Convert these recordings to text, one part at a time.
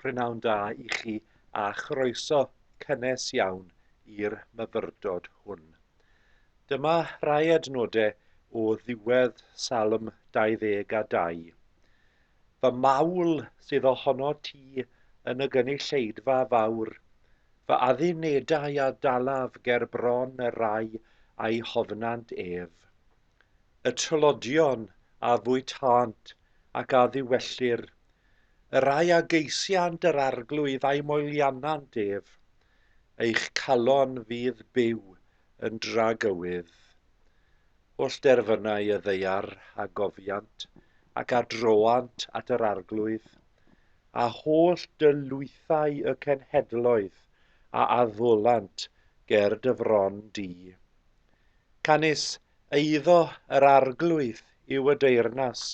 Prynawn da i chi a chroeso cynnes iawn i'r myfyrdod hwn. Dyma rai adnodau o ddiwedd Salm 22. Fy mawl sydd ohono ti yn y gynulleidfa fawr, Fy addunedau a dalaf ger bron y rai a'i hofnant ef. Y trylodion a fwytânt ac a ddiwellir, Y rai a geisiant yr arglwydd a'i moelianant ef, Eich calon fydd byw yn dragywydd. Wrth derfynau y ddaear a gofiant ac a droant at yr Arglwydd, a holl dy lwythau y cenhedloedd a addolant ger dy fron di. Canys eiddo yr Arglwydd yw y deyrnas,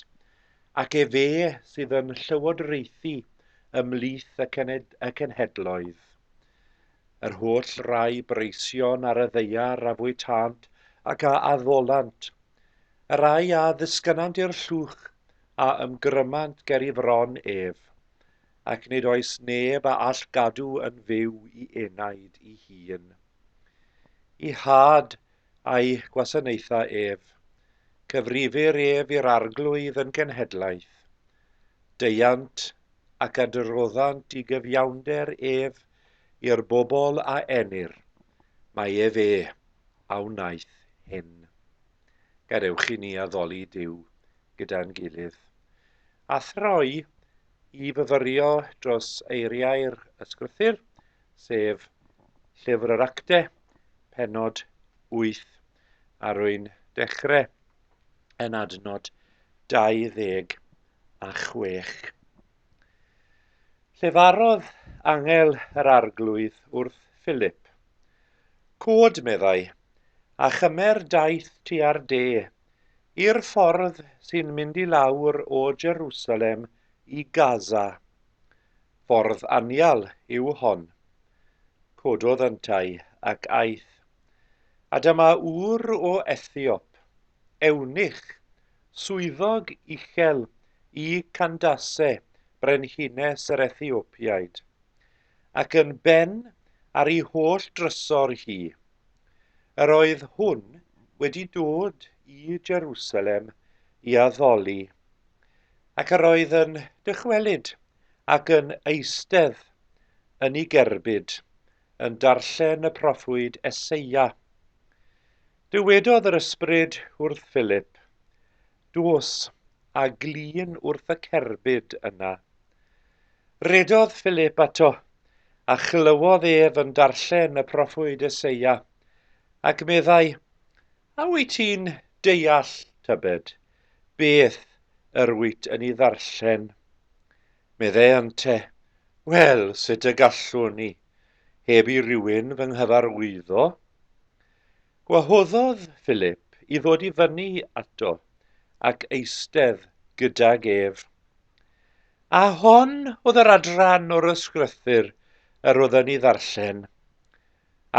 ac efe sydd yn llywodraethu ymhlith y cenhedloedd. yr holl rai breision ar y ddaear a fwytânt ac a addolant, y rai a ddisgynant i'r llwch a ymgrymant ger i fron ef, ac nid oes neb a all gadw yn fyw i enaid i hun. I had a'i gwasanaetha ef, cyfrifir ef i'r arglwydd yn genhedlaeth. Deiant ac adroddant i gyfiawnder ef I'r bobl a enir, mae ef e a wnaeth hyn. Gadewch i ni addoli Duw gyda'n gilydd, a throi i fyfyrio dros eiriau'r Ysgrythur, sef Llyfr yr Actau, penod 8, a rwy'n dechrau yn adnod 26. Llefarodd angel yr Arglwydd wrth Philip. Cwd, meddai, a chymer daith tua'r de, i'r ffordd sy'n mynd i lawr o Jerusalem i Gaza. Ffordd anial yw hon. Cododd yntau ac aeth. A dyma ŵr o Ethiop, ewnich, Swyddog uchel i Candace, brenhines yr Ethiopïaid, ac yn ben ar ei holl drysor hi. Yr oedd hwn wedi dod i Jerusalem i addoli, ac yr oedd yn dychwelyd ac yn eistedd yn ei gerbyd, yn darllen y proffwyd Eseia. Dywedodd yr Ysbryd wrth Philip, Dos a glun wrth y cerbyd yna. Rhedodd Philip ato, a chlywodd ef yn darllen y proffwyd Eseia, ac meddai, A wyt ti'n deall, tybed, beth yr wyt yn ei ddarllen? Meddai ante, Wel, sut y gallwn i, heb i rywun fy nghyfarwyddo? Gwahoddodd Philip i ddod i fyny ato ac eistedd gydag ef. A hon oedd yr adran o'r ysgrythyr yr oedd yn ei ddarllen.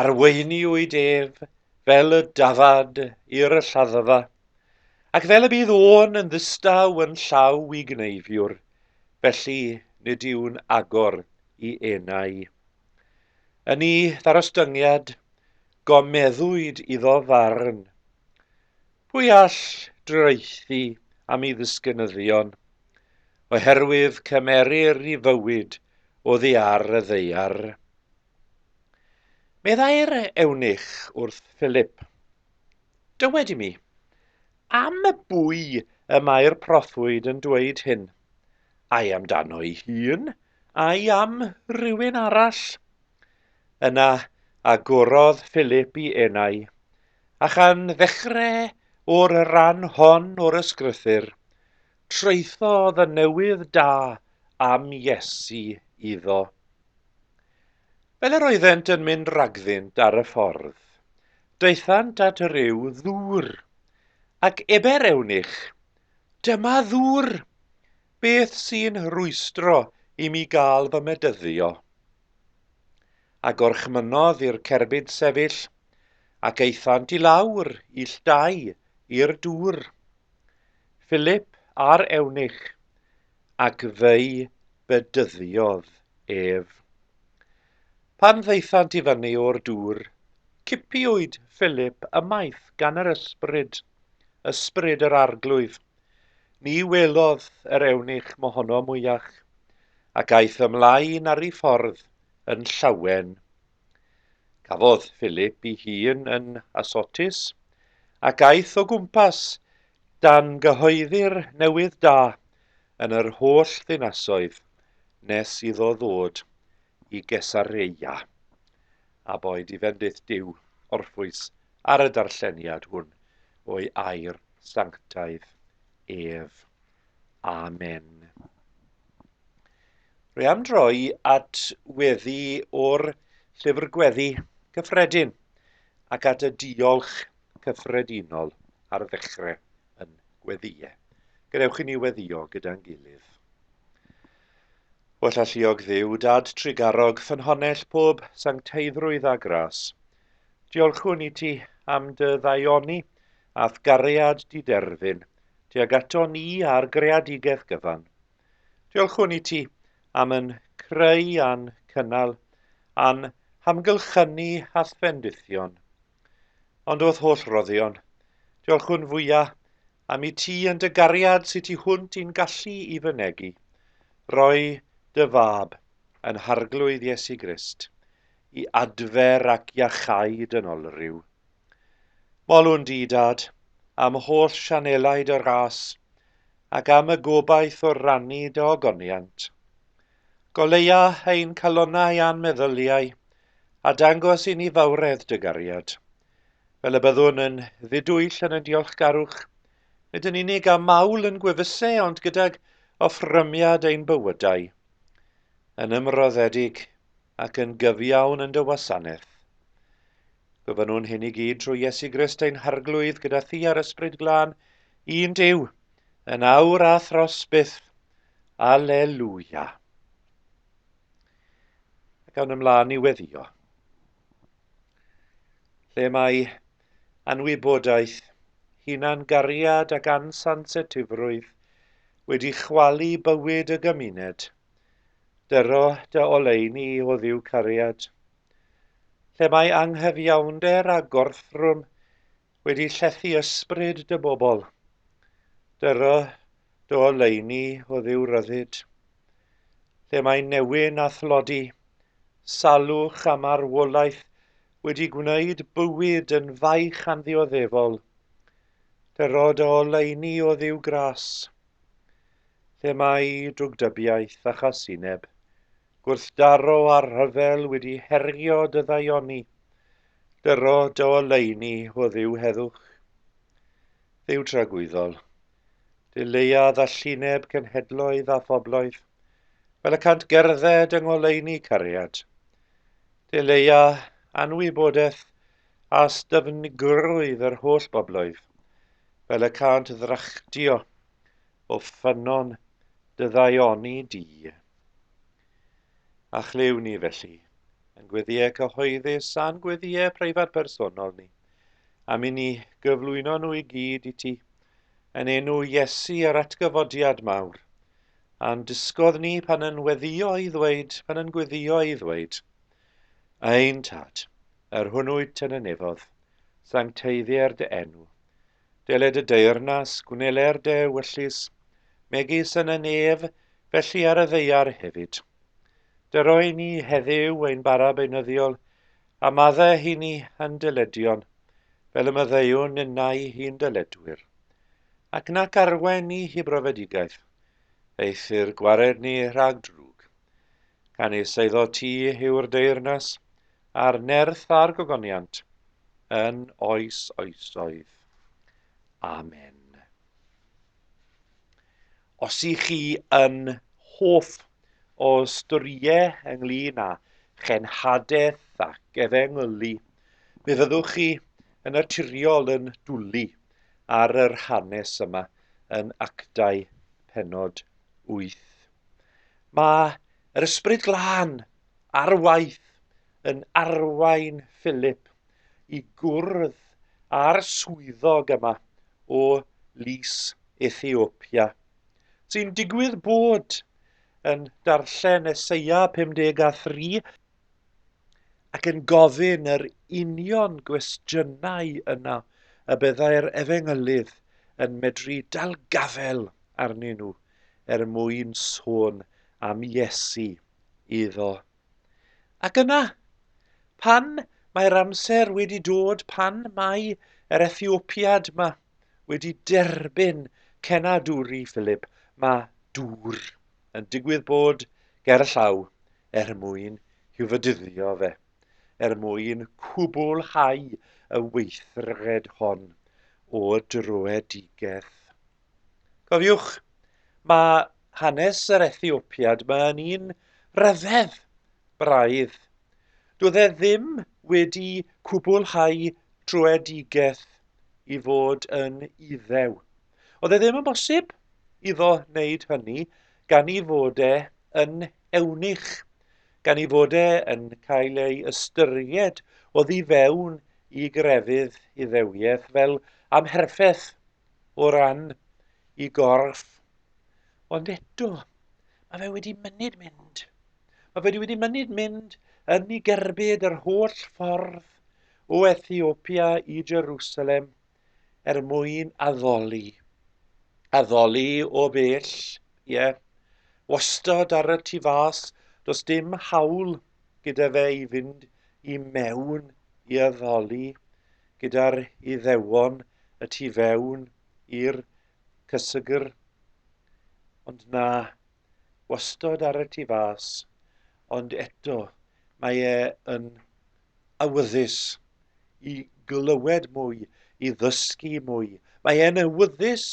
Arweiniwyd ef fel y dafad i'r lladdfa, ac fel y bydd o'n yn ddistaw yn llaw i gneifiwr, felly nid yw'n agor i enau. Yn ei ddarostyngiad, gomeddwyd iddo farn. Pwy all draethu am ei ddisgynyddion, oherwydd cymerir i fywyd o ddiar y ddeiar. Meddai'r ewnich wrth Philip, Dywed i mi, am y bwy y mae'r proffwyd yn dweud hyn? ai amdano'i hun, ai am rywun arall. Yna agorodd Philip i enau, a chan ddechrau o'r ran hon o'r ysgrythyr, traethodd y newydd da am Iesu iddo. Fel yr oeddent yn mynd ragddynt ar y ffordd, daethant at ryw ddŵr, ac eber eunych Dyma ddŵr! Beth sy'n rwystro i mi gael fy medyddio? A gorchmynnodd i'r cerbyd sefyll, ac aethant i lawr illtau i'r dŵr. Philip a'r ewnich, ac fe'i bedyddiodd ef. Pan ddaethant i fyny o'r dŵr, cipiwyd Philip ymaith gan yr ysbryd. Ysbryd yr Arglwydd, ni welodd yr ewnich mohono mwyach, ac aeth ymlaen ar ei ffordd yn llawen. Cafodd Philip i hun yn Asotis, ac aeth o gwmpas dan gyhoeddi'r newydd da yn yr holl ddinasoedd nes iddo ddod i Gesareia, a boed i fendith Duw orffwys ar y darlleniad hwn o'i air sanctaidd ef. Amen. Rwy am droi at weddi o'r llyfr gweddi cyffredin ac at y diolch cyffredinol ar ddechrau yn gweddiau. Gadewch i ni weddio gyda'n gilydd. Well alluog Dduw, Dad trugarog, ffynhonnell pob sancteiddrwydd a gras. Diolchwn i ti am dy ddaioni a'th gariad diderfyn tuag ato ni a'r greadigeth gyfan. Diolchwn i ti am yn creu a'n cynnal, a'n hamgylchynu a'th fendithion. Ond o'th holl roddion, diolchwn fwya Am i ti yn dy gariad sy tu hwnt i'n gallu i fynegi, roi dy Fab, yn Harglwydd Iesu Grist, i adfer ac iachau dyn olryw. Molwn di, Dad, am holl sianelau dy ras, ac am y gobaith o rannu dy ogoniant. Goleia ein calonau a'n meddyliau, a dangos i ni fawredd dy gariad, Fel y byddwn yn ddidwyll yn ein diolchgarwch, nid yn unig â mawl yn gwefuse ond gydag offrymiad ein bywydau, yn ymroddedig ac yn gyfiawn yn dy wasanaeth. Gofynnwn hyn i gyd trwy Iesu Grist ein Harglwydd gyda thi a'r Ysbryd Glân, un Duw, yn awr a thros byth. Alleluia. Ac awn ymlaen i weddio. lle mae anwybodaeth, hunan-gariad ac ansansitifrwydd wedi chwalu bywyd y gymuned. Dyro dy oleuni oddiw cariad. Lle mae anghyfiawnder a gorthrwm wedi llethu ysbryd dy bobl. Dyro Do oleuni o dduw ryddid, lle mae newyn a thlodi, salwch a marwolaeth wedi gwneud bywyd yn faich anddioddefol. Dyro dy oleuni o dduw gras, lle mae drwgdybiaeth a chasineb, gwrthdaro a rhyfel wedi herio dy ddaioni. Dyro dy oleuni o dduw heddwch, dduw tragwyddol, Dy leia ddallineb cenhedloedd a phobloedd, fel y cant gerdded yng ngoleuni cariad. Dy leia anwybodaeth a styfnigrwydd yr holl bobloedd, fel y cant ddrachdio o ffynnon dy ddaioni di. A chlyw ni felly, yn gweddiau cyhoeddus a'n gweddiau preifat personol ni, am i ni gyflwyno nhw i gyd i ti, Yn enw Iesu a'r atgyfodiad mawr, a'n dysgodd ni pan yn weddio i ddweud, pan yn gweddio i ddweud, Ein Tad, yr hwnnwyd yn y nefodd, sancteiddier dy enw. Deled y deyrnas, gwneler dy ewyllys, megis yn y nef, felly ar y ddeiar hefyd. Dyroi ni heddiw ein bara beunyddiol, a madde hi ni yn dyledion, fel y maddeuwn ninnau hi'n dyledwyr, ac nac arwain ni hi brofedigaeth, eithr gwared ni rhag drwg. Canys eiddo ti yw'r deyrnas, a'r nerth a'r gogoniant, yn oes oesoedd. Amen. Os i chi yn hoff o storiau ynglyn â chenhadaeth ac efengylu, Mi fyddwch chi yn naturiol yn dwlu ar yr hanes yma yn actau penod 8. Mae yr ysbryd glân ar waith yn arwain Philip i gwrdd â'r swyddog yma o Lys Ethiopia, sy'n digwydd bod yn darllen Eseia 53 ac yn gofyn yr union gwestiynau yna y byddai'r efengylydd yn medru dalgafel arnyn nhw er mwyn sôn am Iesu iddo. Ac yna, pan mae'r amser wedi dod, pan mae yr Ethiopiad yma wedi derbyn cenadwri Philip, mae dŵr yn digwydd bod ger y llaw er mwyn i'w fydyddio fe, er mwyn cwblhau y weithred hon o dröedigaeth. Cofiwch, mae hanes yr Ethiopiad mae yn un rhyfedd, braidd. Doedd e ddim wedi cwblhau tröedigaeth i fod yn Iddew. Oedd e ddim yn bosib iddo wneud hynny gan i fod e yn eunuch, gan i fod e yn cael ei ystyried o ddi fewn i grefydd Iddewiaeth fel amherffeth o ran i gorff. Ond eto, mae fe wedi mynyd mynd. Mae fe wedi mynyd mynd yn ei gerbyd yr holl ffordd o Ethiopia i Jerusalem er mwyn addoli. Addoli o bell, ie. Yeah. Wastad ar y tu fas, does dim hawl gyda fe i fynd i mewn i addoli gyda'r iddewon y tu fewn i'r cysygr. Ond na, wastod ar y tu fas, ond eto mae e yn awyddus i glywed mwy, i ddysgu mwy. Mae e'n awyddus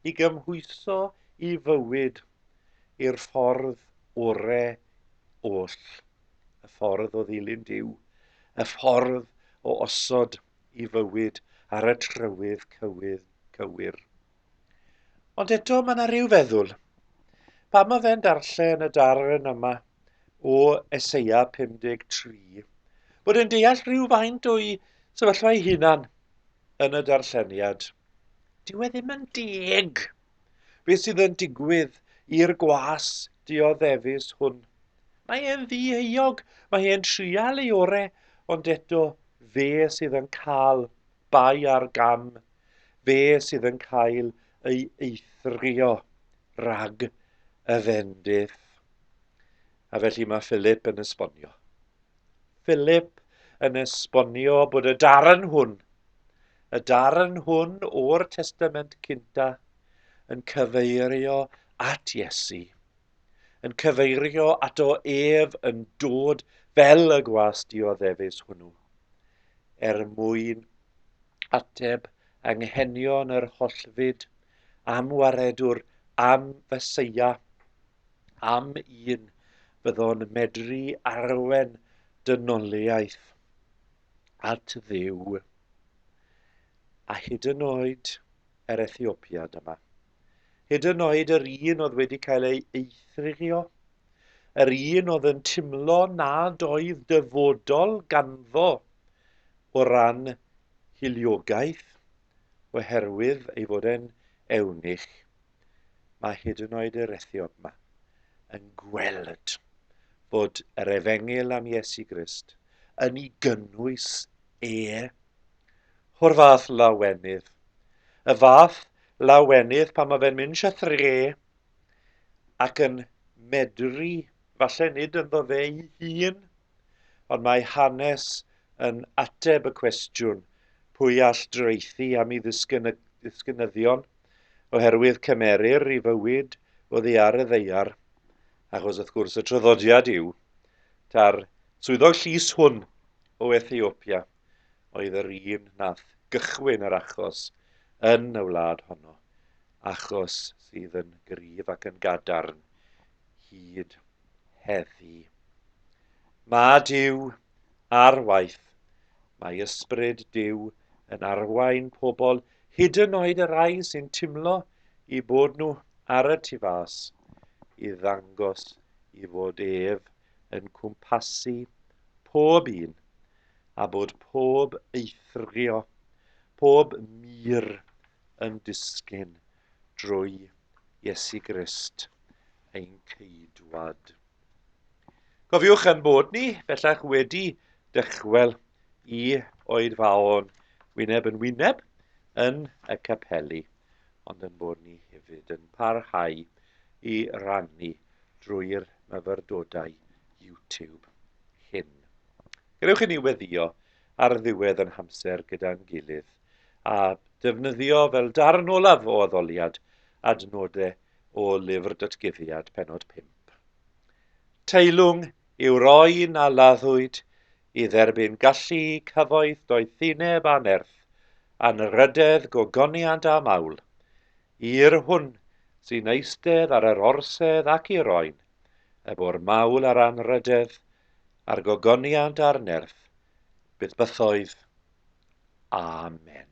i gymhwyso i fywyd i'r ffordd ore oll, y ffordd o ddilyn Duw, y ffordd o osod i fywyd ar y trywydd cywydd cywir. Ond eto mae yna rhyw feddwl. Pam mae fe'n darllen y darn yma o Eseia 53, bod yn deall rhyw faint o'i sefyllfa ei hunan yn y darlleniad. Dyw e ddim yn deg beth sydd yn digwydd i'r gwas dioddefus hwn. Mae e'n ddieuog, mae e'n trial ei ore, ond eto fe sydd yn cael bai ar gam Fe sydd yn cael ei eithrio rhag y fendith. A felly mae Philip yn esbonio. Philip yn esbonio bod y darn hwn, y darn hwn o'r Testament Cynta, yn cyfeirio at Iesu. yn cyfeirio ato ef yn dod fel y gwas dioddefus hwnnw, er mwyn ateb anghenion yr hollfyd am waredwr, am feseia, am un fyddo'n medru arwen dynoliaeth at dduw, a hyd yn oed yr Ethiopiad yma. hyd yn oed yr un oedd wedi cael ei eithrio, yr un oedd yn timlo nad oedd dyfodol ganddo o ran hiliogaeth oherwydd ei fod e'n ewnich. Mae hyd yn oed yr ethiop yma yn gweld bod yr efengyl am Iesu Grist yn ei gynnwys e. O'r fath lawenydd, y fath Lawenydd pan mae fe'n mynd eisiau thre ac yn medru, falle nid ynddo fe'i hun, ond mae hanes yn ateb y cwestiwn pwy all draethu am ei ddisgynyddion oherwydd cymerir i fywyd oddi ar y ddaear, achos wrth gwrs y traddodiad yw ta'r swyddog llys hwn o Ethiopia. oedd yr un nath gychwyn yr achos yn y wlad honno, achos sydd yn gryf ac yn gadarn hyd heddi. Mae Dyw ar waith. Mae ysbryd Dyw yn arwain pobl, hyd yn oed y rai sy'n timlo i bod nhw ar y tu fas, i ddangos i fod ef yn cwmpasu pob un a bod pob eithrio, pob mur yn disgyn drwy Iesu Grist, ein Ceidwad. Cofiwch ein bod ni, bellach wedi dychwel i oed faon wyneb yn wyneb yn y capeli, ond yn bod ni hefyd yn parhau i rannu drwy'r myfyrdodau YouTube. hyn. Gallwch hynny weddio ar ddiwedd yn hamser gyda'n gilydd a defnyddio fel darn olaf o addoliad adnodau o Lyfr Datguddiad, penod 5. Teilwng yw roi na laddwyd i dderbyn gallu, cyfoeth, doethineb a nerth, anrhydedd, gogoniant a mawl. I'r hwn sy'n eistedd ar yr orsedd ac i'r oen, y bwr mawl a'r anrhydedd, a'r gogoniant a'r nerth, byth bythoedd. Amen.